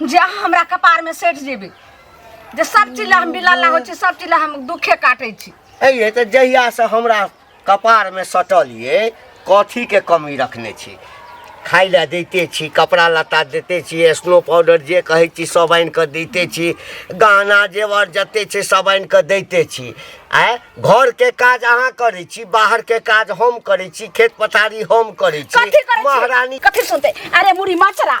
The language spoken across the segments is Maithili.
जे अहाँ हमरा कपारमे सटि जेबै जे सब चीज लए हम बिला लागो छी सब चीज लए हम दुखे काटै छी अइए तऽ जहियासँ हमरा कपारमे सटल ये कथीके कमी रखने छी खाइ लए दैते छी कपड़ा लत्ता दैते छी स्नो पाउडर जे कहै छी सब आनि कऽ दैते छी गहना जेवर जते छै सब आनि कऽ दैते छी आँय घरके काज अहाँ करै छी बाहरके काज हम करै छी खेत पथारी हम करै छी कथी करै छी महारानी कथी सुनते अरे मुड़ी मचरा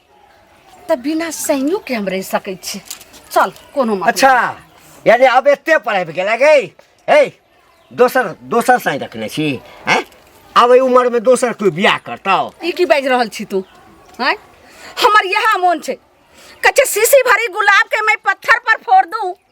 तऽ बिना सैनियो के हम रह सकै छी चल कोनो मतलब अच्छा यानी अब एते पर आबि गेला गै हे दोसर दोसर साई रखने छी हैं आब एहि उमरमे दोसर कोइ बियाह करतौ ई की बाजि रहल छी तू हैं हमर यह मोन छै कच्चे शीशी भरी गुलाब के मैं पत्थर पर फोड़ दूं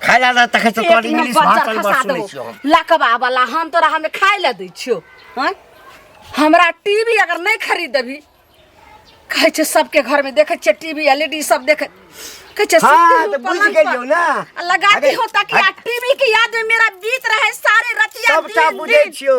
खाय ला ना तखे से कॉल इंग्लिश भाषा में बात सुनै छियो हम लकबा वाला हम तोरा हमे खाय ले दै छियो हैं? हमरा टीवी अगर नहीं खरीद देबी कहै छै सबके घर में देखे छै टीवी एलईडी सब देखे कहै छै हाँ, सुतलू तो बुझ पलंग पर। गेलियो ना। आ लगाती अरे, होता कि आ टीवी के याद में मेरा बीत रहे सारे रतिया सबटा दिन बुझै दिन छियो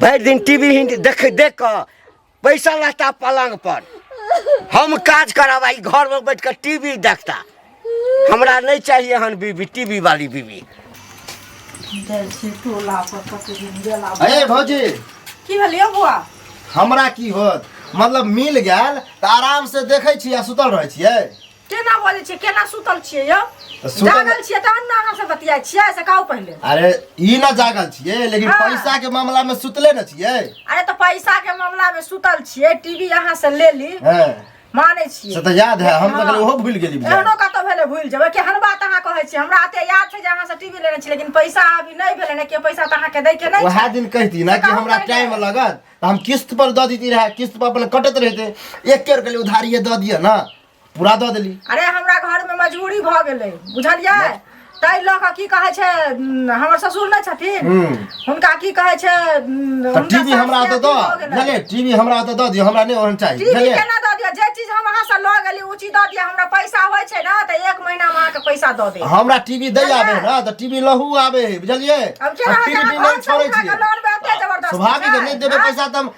भरि दिन टीवी हिंदी देख देख कऽ पैसा रहता पलंग पर हम काज करब आ ई घर में बैठ कऽ टीवी देखता हमरा नहीं चाहिए हन बीबी टीवी वाली बीबी अरे भौजी की भेल यौ बौआ हमरा की होत मतलब मिल गेल तऽ आराम से देखै छी आ सुतल रहै छियै केना बजै छियै केना सुतल छियै यौ तऽ सुतल- जागल छियै तहन ने अहाँ से बतियाइ छियै से कहू पहिले अरे ई ना जागल छियै लेकिन हाँ। पैसा के मामला में सुतले न छियै अरे तऽ पैसा के मामला में सुतल छियै टीवी अहाँ से ले ली हाँ। मानै छियै से तऽ याद है हम तऽ कहलियै ओहो भूल गेली बुझाइए। एहनो कतौ भेलै भूलि जेबै केहन बात अहाँ कहै छियै हमरा एते याद छै जे अहाँ से टीवी लेने छी लेकिन पैसा अभी नहि भेलै ने के पैसा तऽ अहाँके दै के नहि वएह छै दिन कहती ना कि कहू हमरा पहिले। टाइम लगत तऽ हम किस्त पर दऽ देती रहे किस्त पर अपन कटत रहते एक के रुपया उधारिये दऽ दिअ ना पूरा दऽ देली अरे हमरा घर में मजबूरी भऽ गेलै बुझलियै ताहि लऽ कऽ की कहै छै उम, हमर ससुर नहि छथिन हम्म। हुनका की कहै छै उम, तऽ हुनका टीवी हमरा सासके ओतऽ अथी भऽ दऽ गेलै। बुझलियै टीवी हमरा ओतऽ दऽ दियौ हमरा नहि ओहन चाही टीवी बुझलियै केना दऽ दिअ जे चीज हम अहाँ से लऽ गेली ओ चीज दऽ दिअ हमरा पैसा होइ छै ने तऽ एक महीना में अहाँके पैसा दऽ देब हमरा टीवी दै आबे है ना तऽ टीवी लहू आबे है बुझलियै अब केना हम टीवी अहाँ नहि घर से छोड़ै उठा कऽ छियै लौटबै एते जबरदस्ती स्वाभाविक है, छै? नहि देबै आँय? पैसा तऽ हम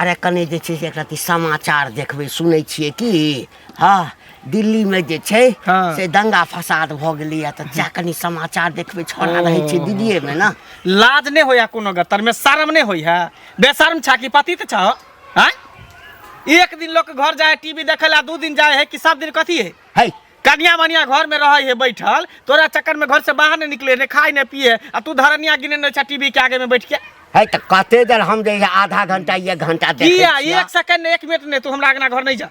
अरे कने जे छै से एकटा ती समाचार देखबै सुनै छियै कि हँ दिल्लीमे जे छै हँ। से दंगा फसाद भऽ गेलैए तऽ जा कनि समाचार देखबै छोड़ा रहै छै दिल्लीएमे ने लाज नहि होइया कोनो गतर में शर्म नहीं होई है बेशर्म छा कि पति तो छह हैं? एक दिन लोग के घर जाए टीवी देखे ला दू दिन जाए है कि सब दिन कथी है है कनिया मनिया घर में रहे है बैठल तोरा चक्कर में घर से बाहर नहीं निकले ने खाए ने पिए आ तू धरनिया गिने ने टीवी के आगे में बैठ के है तो कते देर हम जे आधा घंटा एक घंटा देखे किया छियै। एक सेकंड ने एक मिनट ने तू हमरा अंगना घर नहीं जा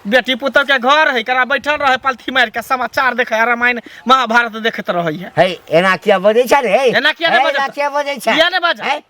बेटी पुतल के घर है करा बैठल रहे पलथी मार के समाचार देखे है, रामायण महाभारत देखत रहे है है एना किया बजै छै रे एना किया नहि एना बजत? किया बजै छै किया नहि बाजत? है?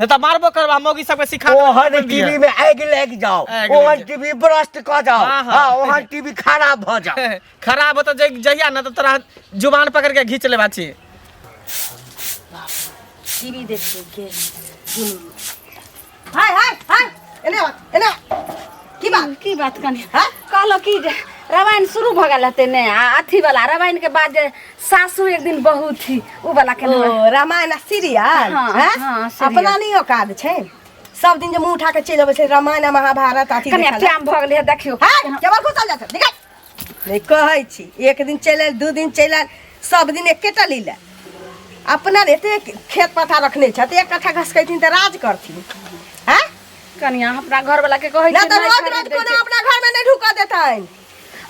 नहीं तो मारबो करबा मोगी सबके सिखा देबा, ओहन मारबो टीवी दिया। में आगि लागि जाओ आगि ओहन लागि टीवी ब्रस्ट क जाओ हाँ, हाँ। हाँ ओहन टीवी खराब भ जाओ खराब हो तो जै- जहिया ना तो तोरा जुबान पकड़ के घींच लेबा छी टीवी देख के हाय हाय हाय एने आ, एने आ। की बात की बात कनी कहलो कि जे रामायण शुरू भऽ गेल हते ने आ अथी वाला रामायण के बाद जे सासू एक दिन बहु थी उ वाला के ओ नाम रामायण आ सीरियल हाँ, हैं? हाँ, सीरियल। अपना नहीं औकात छै सब दिन जे मुंह उठा के चलि अबै छै रामायण आ महाभारत अथी कने देखल टाइम भऽ गेलै देखियो हाय केवल घुसल जात निकल नहीं कहै छी एक दिन चलि आयल दू दिन चलि आयल सब दिन एकेटा लीला अपना रे एते खेत पथा रखने छथ एक कट्ठा घसकैथिन तऽ राज करथिन हैं कनिया हमरा घर वाला के कहै ना छै तऽ नहि रोज रोज खरीदै कोनो छै। अपना घर में नहीं ढुकऽ देतैन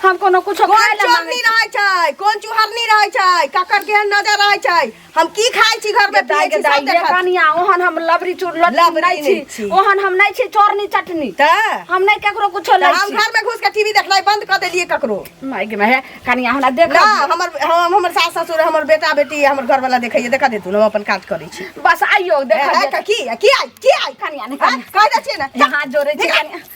हम कोनो कुछ कोन खाए ला चोरनी मांगे रहै छै कोन चुहरनी रहै छै ककर केहन नजर रहै छै हम की खाइ छी घर में दाई पियै के छी दाई सब ये देखत कनिया ओहन हम लबरी चूर लबरी लबरी नहीं नहीं छी छी। ओहन हम नहीं छी चोरनी चटनी त हम नहीं केकरो कुछो त नहीं हम छी घर में घुस के टीवी देखनाइ बंद कर देलिए ककरो माय गे माय कनिया हमरा देख ना हमर हम हमर सास ससुर हमर बेटा बेटी हमर घर वाला देखैए देखा देतू हम अपन काज करै छी बस आइयो ए, देख ए, की की आइ की आइ कनिया ने हाँ, कनिया कह दै छियै ने यहाँ जोड़े छी कनिया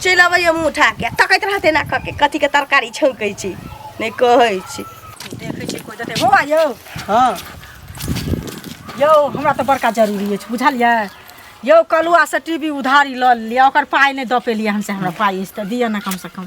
चलि अबैए मुँह उठा के तकैत रहतै एना कऽ के कथी के तरकारी छौंकै छी नहि कहै छी देखै छी कोइ देतै बौआ यौ हँ यौ हमरा तऽ बड़का जरूरी अछि बुझलियै यौ कलुआसँ टी वी उधारी लऽ लिअ ओकर पाइ नहि दऽ पेलियै हमसे हमरा पाइ अछि तऽ दिअ ने कमसँ कम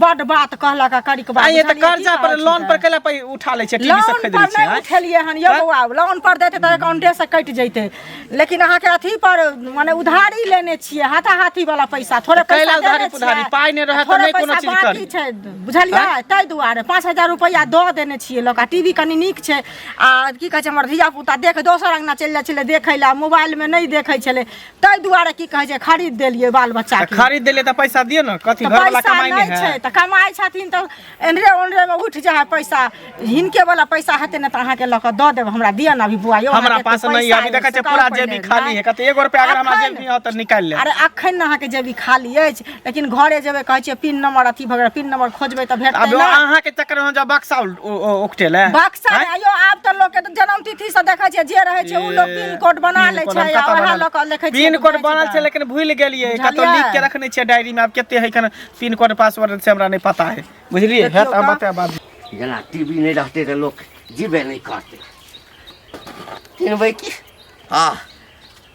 बड बात कहलक आ करिक बात आ ये तऽ बुझलियै की कर्जा पर कहै छी लोन तऽ? पर कैला पै उठा लै छै टीवी लोन सब पर खरीद लै छै नहि आँय? उठेलियै हन यौ तऽ? बौआ लोन पर देते तऽ अकाउंटे से कटि जैते लेकिन अहाँके अथी पर माने उधारी लेने छियै हाथा हाथी वाला पैसा थोड़े तऽ कैला पैसा उधारी देने पुधारी? छियै, पाइ नहि रहत तऽ थोड़े नहि कोनो पैसा चीज बाकी करी। छै बुझलियै ताहि दुआरे पाँच हजार रुपैआ दऽ देने छियै लोक आ टीवी कनि नीक छै आ की कहै छै हमर धिया पुता देख दोसर अंगना चलि जाइ छलै देखै लए मोबाइलमे नहि देखै छलै ताहि दुआरे की कहै छै खरीद देलियै बाल बच्चा तऽ के खरीद देलियै तऽ पैसा दिअ ने कथी तऽ घर वाला पैसा कमाई नहि नहि छै है तऽ कमाइ छथिन तऽ एनरे ओनरे मे उठि जाइ है पैसा हिनके वाला पैसा हेतै ने तऽ अहाँके लऽ कऽ दऽ देब हमरा दिअ ने अभी बुआ यौ हमरा अहाँके पास एते नहीं है अभी पैसा देखै छै अछि, पूरा कहऽ जेबी पहिले, खाली है कथी एगो रुपया अगर हमरा अखन- जेबी है तऽ निकालि ले अरे अखन ने अहाँके जेबी खाली अछि लेकिन घरे जेबै कहै छियै पिन नंबर अथी भगैर पिन नंबर खोजबै तऽ भेटतै अब ना अहाँ के चक्कर में जब बक्सा उल- ओ- ओ- उकटे ले बक्सा आँय? आयो आब तऽ लोक के तऽ जन्म तिथि से देखै छियै जे रहै छै ओ लोक पिन कोड बना पिन लै कोड छै हम आ कतऽ ओएह बनल? लऽ कऽ देखै छियै पिन कोड बनल छै लेकिन भूल गेलियै कतौ बुझलियै? लिख के रखने छियै डायरी में आब कते है कन पिन कोड पासवर्ड से हमरा नहीं पता है बुझलियै है देखियौ तऽ हम तऽ। बताएब बाद में। जेना टीवी नहि रहतै तऽ लोक जीबे नहि करतै किनबै की हँ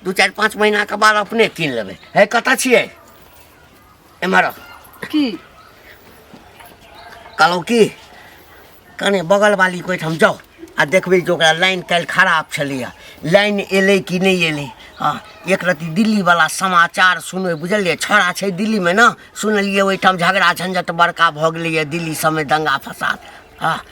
दू चारि पाँच महीना के बाद अपने कीन लेबै हे कतऽ छियै एम्हर आउ। की कहलहुँ की कने बगल वाली कोइ ठाम जाउ आ देखबै जे ओकरा लाइन काल्हि खराब छलैए लाइन एलै कि नहि एलै हँ एक रत्ती दिल्लीवला समाचार सुनबै बुझलियै छौड़ा छै दिल्लीमे ने सुनलियै ओहिठाम झगड़ा झंझट बड़का भऽ गेलैए दिल्ली सभमे दंगा फसाद हँ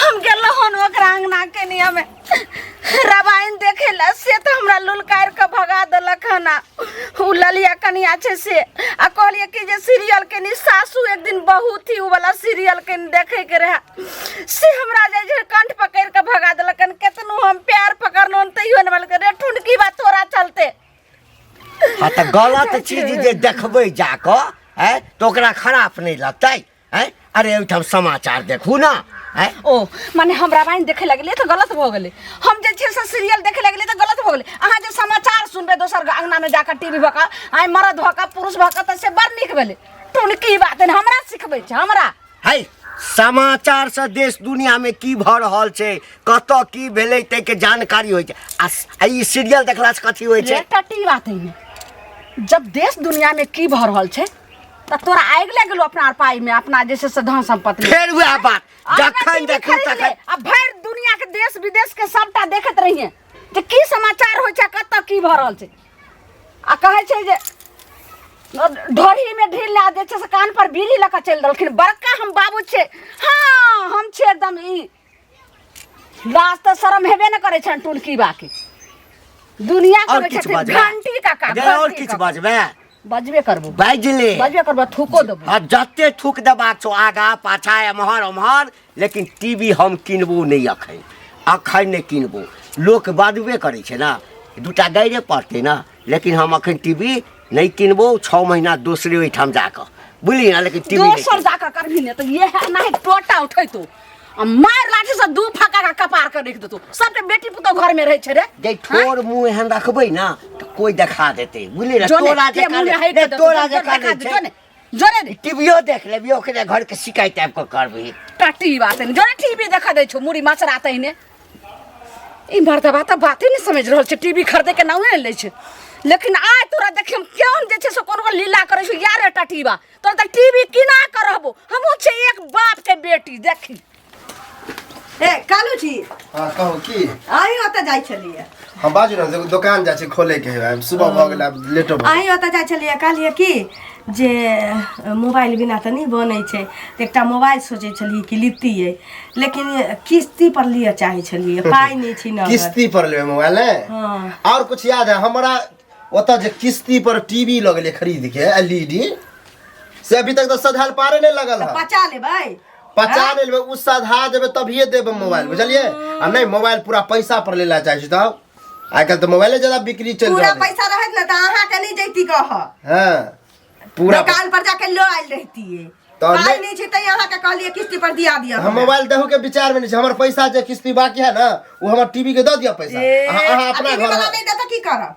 हम गेलहुँ हन ओकरा अंगना के नियमे रामायण देखे ला से तो हमरा लुलकार के भगा देलक हन आ उ ललिया कनिया छै से आ कहलिए कि जे सीरियल के नी सासू एक दिन बहुत ही उ वाला सीरियल के नी देखे के रहे से हमरा जे जे कंठ पकड़ के भगा देलक हन केतनो हम प्यार पकड़लो हन तैयो ने बोलके रे ठुनकी बा तोरा चलते आ तऽ गलत चीज जे देखबै जाकऽ है तऽ ओकरा खराब नहि लगतै है अरे ओहिठाम समाचार देखू ना है ओ माने हम रामायण देखे लगलिए तो गलत भ गेले हम जे छै से सीरियल देखे लगलिए तो गलत भ गेले अहाँ जे समाचार सुनबे दोसर के अंगना में जाकर टीवी भका आइ मरद भका पुरुष भका त से बड़ नीक भेले तुन की बात है हमरा सिखबै छै हमरा है समाचार से देश दुनिया में की भ रहल छै कत की भेलै तै के जानकारी होइ छै आ स- आ ई सीरियल देखला से कथी होइ छै एकटा टी बात है जब देश दुनिया में की भ रहल छै तऽ तोरा आगि लागि गेलो अपना पाई में अपना जे छै से धन संपत्ति में फेर वएह बात अपना जखन टीवी देखी खरीद ले, तखन आ भरि दुनिया के देश विदेश के सबटा देखैत रहिए जे की समाचार होइ छै कतऽ की भऽ रहल छै आ कहै छै जे ढोरी में ढील ला दै छै से कान पर बीड़ी लऽ कऽ चलि रहलखिन बड़का हम बाबू छै हँ हम छियै एकदम ई लाज तऽ शरम हेबे ने करै छनि टुलकी बाके दुनिया और करै किछु छथिन बाजबै? घंटी का काम अगर और किछु बाजबै बजबे करबो बाजि ले बजबे करबो थूको देबो आ जते थूक देबाक छौ आगा पाछा एम्हर ओम्हर लेकिन टीवी हम किनबो नहि अखन अखन नहि किनबो लोक बाजबे करै छै ने दूटा गाइरे पड़तै ने लेकिन हम अखन टीवी नहीं किनबो छः महीना दोसरे ओहिठाम जाकर बुझलियै ने लेकिन टीवी दोसर जाकर करबी ने तऽ इएह नहि टोटा उठैतो आ मारि लाठी से दू फका का कपार के रख देतो सबके बेटी पुतो घर में रहे छै रे जे ठोर मुंह एहन रखबै ना तऽ कोई देखा देते बुझलियै तोरा जे तोरा जे देखा देते जोरे दे टीवीओ देख लेबी ओकरे घर के शिकायत आबि कऽ करबही टट्टी बात नहीं जोरे टीवी देखा दे छो मुड़ी माछ रात ही ने ई मर्दबा तऽ बाते नहीं समझ रहल छै टीवी खरीदे के नामे ले छै लेकिन आय तोरा देखिए हम क्यों जे छै से कोनो लीला करे छो यार टट्टी बा तोरा तऽ टीवी किना के रहबो हमहूँ छै एक बाप के बेटी देखी ए कालू जी हाँ कहू की अहीं ओतऽ जाइ छलियै हम बाजू ने एगो दोकान जाइ छै खोले के है सुबह भऽ गेल आब लेटो भऽ अहीं ओतऽ जाइ छलियै कहलियै कि जे अ, मोबाइल बिना तऽ नहि बनै छै तऽ एकटा मोबाइल सोचै छलियै कि लितियै लेकिन किस्ती पर लिअ चाहै छलियै पाइ नहि छी गेल। नगद किस्ती पर लेबै मोबाइल ने हाँ और कुछ याद है हमारा ओतऽ जे किस्ती पर टीवी लगले खरीद के एलईडी से अभी तक तो सधाल पारे नहीं लगल है पचा लेबै पचा ले लेबै उ सधा देबै तभिए देबै मोबाइल बुझलिए आ नहीं मोबाइल पूरा पैसा पर लेला चाहे छी तब आइ काल्हि तऽ मोबाइले ज्यादा बिक्री चलि पूरा रहल है पैसा रहत ना तो अहाँ के नहीं जैती कह हाँ पूरा दुकान पर जाके लो आयल रहती तो पाई नहीं- नहीं छै तै अहाँ के कहलिए किस्ती पर दिया दिया हम मोबाइल देहू के विचार में नहीं छै हमर पैसा जे किस्ती बाकी है ना वो हमर टीवी के दऽ दिअ पैसा अहाँ अहाँ अपना घर में- नहीं देता की करब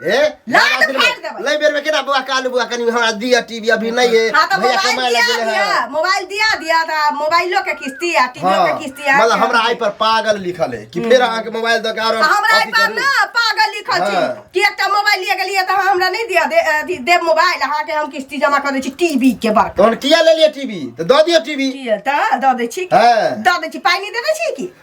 ए लात फाड़ देबै। ले बेर में केना बुआ कालू बुआ कनी हमरा दिया टीवी अभी नहीं है हाँ तो भैया कमाए मोबाइल लगे दिया है दिया मोबाइल दिया दिया था मोबाइलो के किस्ती आ टीवी हाँ, के किस्ती आ मतलब हमरा आई पर पागल लिखल है कि फिर अहाँ के मोबाइल दो कारण आ हमरा अथी पर करू। ना पागल लिखल छी हाँ। कि एकटा मोबाइल लिए गेलिए त अहाँ हमरा नहि दिया दे अथी देब मोबाइल अहाँ के हम किस्ती जमा कर दै छी टीवी के बड़ तहन किया ले लिया टीवी तो दो दिया टीवी किए त द दै छी हाँ। द दै छी पाइ नहि देने छी कि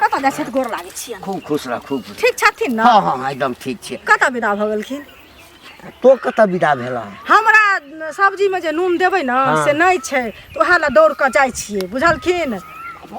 कतऽ जाइ छथि गोर लागै छियनि खूब खुश रह खूब खुश ठीक छथिन ने हँ हँ एकदम ठीक छै कतऽ विदा भऽ गेलखिन तो कतऽ विदा भेला हमरा न, सब्जीमे जे नून देबै ने हँ। से नहि छै तऽ ओएह लए दौड़ कऽ जाइ छियै बुझलखिन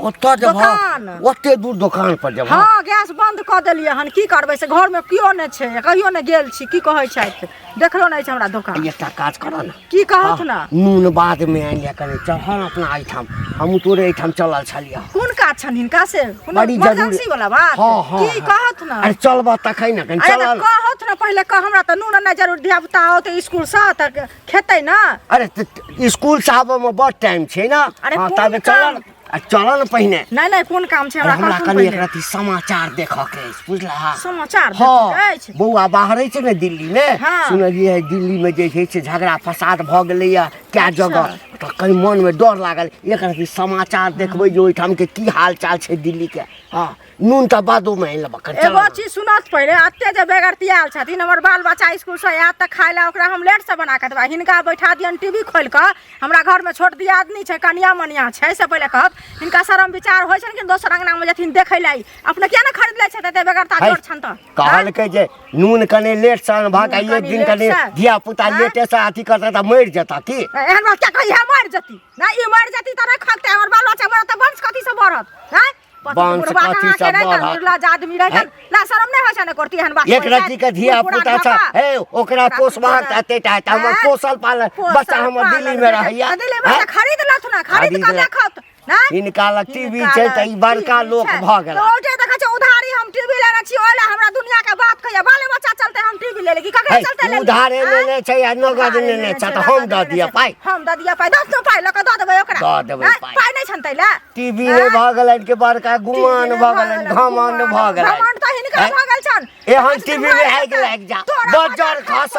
ओतऽ जब दोकान। ओते दूर दोकान पर जब हँ गैस बन्द कऽ देलियै हन की करबै से घरमे केओ नहि छै कहियो नहि गेल छी की कहै छथि देखलो नहि छै हमरा दोकान एकटा काज करऽ ने की कहत ने नून बाद में आनि लिया कने चढ़ल अपना एहिठाम हमहूँ तोरे एहिठाम चलल छलियै कोन काज छनि हिनका से कोनो बड़ी जरूरी- इमरजेंसी वाला बात हाँ, हाँ, की हाँ। कहत ने अरे चलबह तखन ने कनि अरे चलऽ तऽ ने। कहत ने पहिले कह हमरा तऽ नून नहि जरूर धिया पुता होत स्कूल से तऽ खेतै ने अरे त- त- स्कूल से आबऽ में बड़ टाइम छै ना अरे हाँ, कोन ताबे चलऽ काम? ने। आ चलऽ ने पहिने नहीं नहीं कौन काम छै हमरा हमरा कहथुन कनि एक पहिले रति समाचार देखऽ के अछि बुझला समाचार देखै हाँ अछि बौआ बाहरे छै ने दिल्ली मे हाँ। सुनलियै है दिल्ली मे जे छै से झगड़ा फसाद भऽ गेलैया कए अच्छा। जगह तऽ कहीं मन मे डर लागल एक रति समाचार देखबै जे ओहिठाम के की हाल चाल छै दिल्ली के हाँ नून तऽ बादो में आनि लेबऽ कनि एगो चीज सुनत पहिले अते जे बेगरती आयल छथिन हमर बाल बच्चा स्कूल से आयत तऽ खाय लए ओकरा हम लेट से बना के देबै हिनका बैठा दियन टीवी खोल के हमरा घर में छोट दियादनी छै कनिया मनिया छै से पहिले कहत हिनका शरम विचार होइ छनि कि दोसर अंगना में जथिन देखै लए अपने किया ने खरीद लै छथि एते बेगरता जोर छन तऽ कहलकै जे नून कने लेट से अनबा के एक दिन कने धिया पुता लेटे से अथी करता तऽ मरि जेता की एहन बात क्या कहिया मरि जती ना ई मरि जती तऽ नहि खगते हमर बाल बच्चा मरत तऽ वंश कथी से बढ़त हैं बांस काठी सब बाढ़ आदमी रहे ना शर्म नहीं होय छै ने करती हन बात एक रति के धिया पुता छ हे ओकरा पोसबा तते टा त हमर पोसल पालन बच्चा हमर दिल्ली में रहैया दिल्ली में खरीद लथ ना खरीद कर देखत ना इनका लग टीवी छै त ई बड़का लोक भ गेल तो जे देखै छै उधारी हम टीवी लेने छी ओला हमरा दुनिया के बात कहिया बाल बच्चा चलते हम टीवी ले लेगी ककरा चलते ले उधारे लेने छै आ नगद लेने छै त हम द दिया पाई हम द दिया पाई दस पाई लक द देबै ओकरा द देबै पाई पाई नै छन तैला टीवी नहि भऽ गेलनि के बड़का गुमान भऽ गेलनि घमंड भऽ गेलनि घमंड तऽ हिनका हैं? भऽ गेल छन एहन टीवी मे आगि लागि जा बजर खस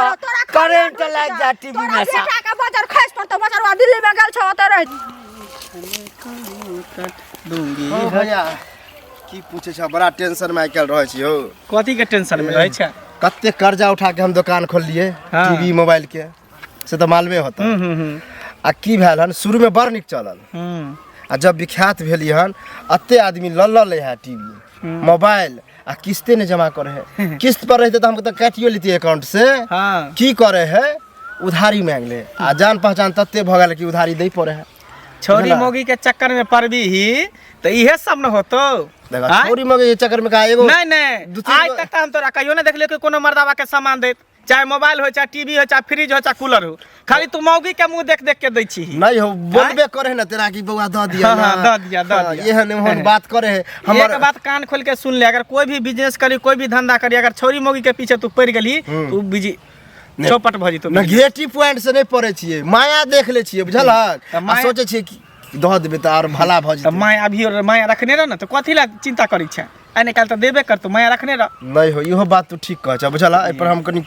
करेंट लागि जा टीवी मे सा बेटा के बजर खस पर तऽ बजरवा दिल्ली में गेल छौ ओतऽ रह हँ भैया की पूछे छ बड़ा टेंशन में आइ काल्हि रहै छी हौ कथी के टेंशन में रहै छै कते कर्जा उठा के हम दुकान खोललिए हाँ। टीवी मोबाइल के से तऽ मालूमे होता हम्म, हम्म, हम्म, आ की भेल हन शुरू में बड़ नीक चलल हम्म, आ जब विख्यात भेली हन अते आदमी लऽ लऽ ले है टीवी मोबाइल आ किस्ते ने जमा करे है किस्त पर रहते तो हमको तो काटियो लेती अकाउंट से हाँ की करे है उधारी मांग ले आ जान पहचान तते भऽ गेल कि उधारी दे पड़े है छोरी बुझला? मोगी के चक्कर में पड़बी ही तो इहे सब न होतो देखा आँय? छोरी मगे के चक्कर में का एगो नहीं नहीं दू तीन आइ गो- तक तो हम तोरा कहियो नहीं देखलियो कि कोनो मर्दावा के सामान देत चाहे मोबाइल हो चाहे टीवी हो चाहे फ्रिज हो चाहे कूलर हो खाली तू मौगी के मुंह देख देख के दै छी नहीं हो बोलबे करे है ना तेरा की बउआ द दिया हाँ, ना हाँ, द दिया, द हाँ, दिया। एहन एहन बात करे है एक हमर बात कान खोल के सुन ले अगर कोई भी बिजनेस करी कोई भी धंधा करी अगर छोरी मौगी के पीछे तू पड़ गेली हम्म। तू बिजी नहीं। चौपट भऽ जेतौ नेगेटिव पॉइंट से नहीं पड़े छिए माया देख ले छिए बुझलक तऽ आ माया- सोचे छिए कि दह देबे तऽ आर भला भऽ जेतै माय अभी माया रखने रह ने तऽ कथी लए चिंता करै छै आइ निकाल तऽ देबे करतो माया रखने रह नहि हो इहो बात तू ठीक कह छ बुझला एहि पर हम कनी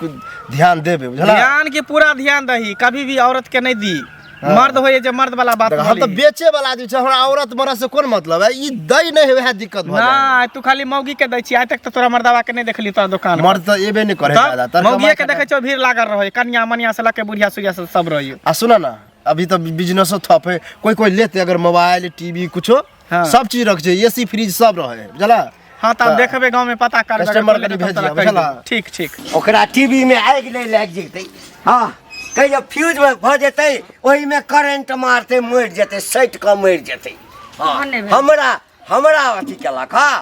ध्यान देबे बुझला ध्यान के पूरा ध्यान दही कभी भी औरत के नहीं दी हाँ। मर्द हो जे मर्द वाला बात हम तो बेचे वाला आदमी छै हमरा औरत मरद से कोन मतलब है ई दई नहीं होय है दिक्कत भा ना तू खाली मौगी के दै छी आज तक तो तोरा मर्दवा के नहीं देखली तोरा दुकान मर्द तो एबे नहीं करे दादा मौगी के देखे छो भीड़ लागल रहो कन्या मनिया से लके बुढ़िया सुढ़िया सब रहियो आ सुना ना अभी तो बिजनेसो थप है कोई कोई लेते अगर मोबाइल टीवी कुछो हाँ। सब चीज रख जाए एसी फ्रिज सब रहे है बुझला हाँ तो हाँ। देखबे गांव में पता कर कस्टमर के भेज दिया बुझला ठीक ठीक ओकरा टीवी में आग ले लग जेते हां कहियो फ्यूज में भ जेते ओही में करंट मारते मर जेते सट के मर जेते हाँ। हमरा हमरा अथी केलक हां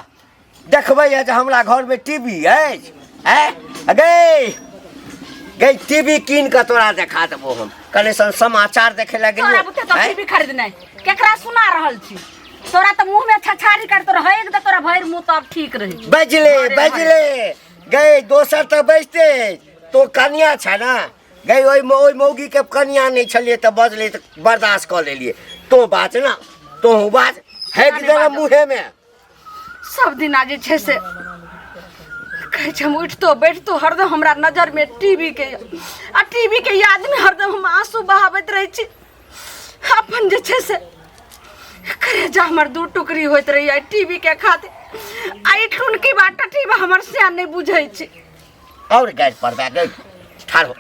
देखबै है जे हमरा घरमे टीवी अछि है गई गई टीवी कीन कऽ तोरा देखा देबो हम कने सन समाचार देखे लए तोरा गेलियो बुते तो हैं? टीवी खरीद नहीं केकरा सुना रहल छी तोरा तो मुंह में छछारी कर तोरा है एकदम तोरा भर मुंह तब ठीक रहे छी। बजले अरे बजले गई दोसर तऽ बजते तो कनिया छ ने गई ओहि मौ- ओहि मौगी के कनिया नहि छलिए तऽ बजले तऽ बर्दाश्त कऽ लेलिए तो बाज ना तो बाज हैक नहि देना बाजब। मुँहे में सब दिना जे छै से कहै छै हम उठितो बैठतो हरदम हमरा नजरमे टीवीके आ टीवीके यादमे हरदम हम आंसू बहाबैत रहै छी अपन जे छै से करेजा हमर दू टुकड़ी होइत रहैए टीवीके खातिर आ ई टुनकी बाटा टीवी हमर से नहि बुझै छै और गैस पर दे दे ठाड़ हो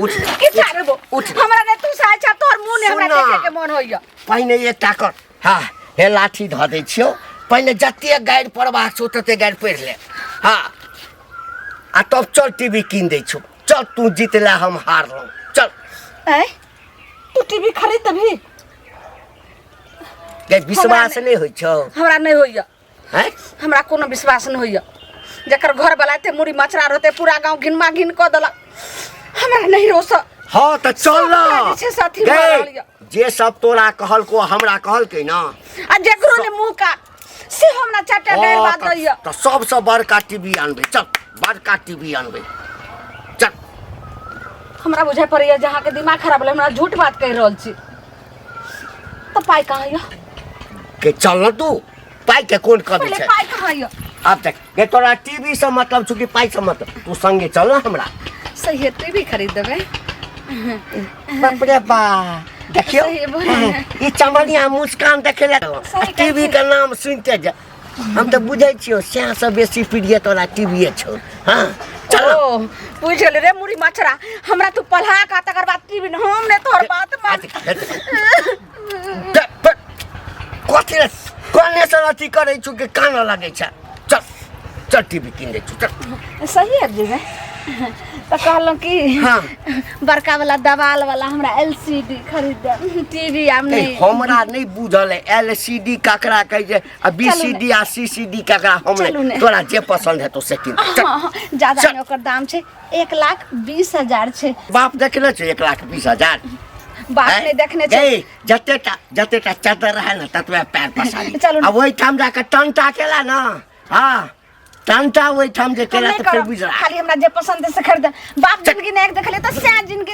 उठ की चाहबो उठ। हमरा ने तू साचा तोर मुंह ने हमरा सुन ना। देखे के मन होइया पहिने एकटा कर हा हे लाठी धऽ दै छियौ पहिले जते गाड़ि पढ़बाक छौ तते गाड़ि पढ़ि ले हा आ तब चल टीवी कीन दै छौ चल तू जीत ले हम हारलहुँ चल ऐ तू टीवी खरीद तभी गै विश्वास नहि होइ छौ हमरा नहि होइए हैं हमरा कोनो विश्वास नहीं होइए जकर घर वाला एते मुड़ी मचरा रहते पूरा गांव घिनमा घिन कऽ देलक हमरा नहीं रोस हाँ तो चल ना सब पीछे से अथी भऽ रहल गई। यऽ। जे सब तोरा कहल को हमरा कहल के ना आ जकरो ने मुंह का से हम ना चाटा गैर हाँ, बात तो- रहिए तो सबसे बड़का टीवी आनबे चल बड़का टीवी आनबे चल हमरा बुझे पड़ैए जे अहाँके दिमाग खराब भेलै हमरा झूठ बात कहि रहल छी तऽ पाइ कहाँ यऽ के चल ना तू पाई के कौन कमी पहिले छै पाइ कहाँ यऽ अब तक ये तोरा टीवी से मतलब छुकी पाई से मतलब तू संगे चल ना हमरा सही है तू भी खरीद देबै बाप रे बा देखियो सही बोल रहे हैं। ई चमनिया मुस्कान देखे ले सही टीवी के नाम सुनते जा हम तो बुझे छियो सैह से बेसी प्रिय तोरा टीवी छौ हां चल ओ बुझ गेल रे मुड़ी मछरा हमरा तू पल्हा का तकर बाद टीवी हम ने तोहर बात मान कथी रे कने से अथी करै छु के कान लागै छ चल चल टीवी किन दै छु चल सही है जी मैं तो कहलो कि हाँ। बड़का वाला दवाल वाला हमरा एलसीडी खरीद दे टीवी हम ए, नहीं हमरा नहीं बुझल है एलसीडी ककरा कहे जे आ बीसीडी आ सीसीडी ककरा हम चलू ने। नहीं तोरा जे पसंद है तो से किन चल हाँ, हाँ, ज्यादा चल। नहीं ओकर दाम छै एक लाख बीस हजार छै बाप देखने छै एक लाख बीस हजार बाप हैं? ने देखने छै गई, जते टा जते टा चदर रहे ना ततवे पैर पसारी चलू ना। अब वही ठाम जाके टंटा केला ना हाँ टंटा वही ठाम जे हम केला नहीं तो फिर करब बुझ रहा खाली हमरा जे पसंद है से खरीद बाप जिंदगी ने एक देखले तो सैन जिंदगी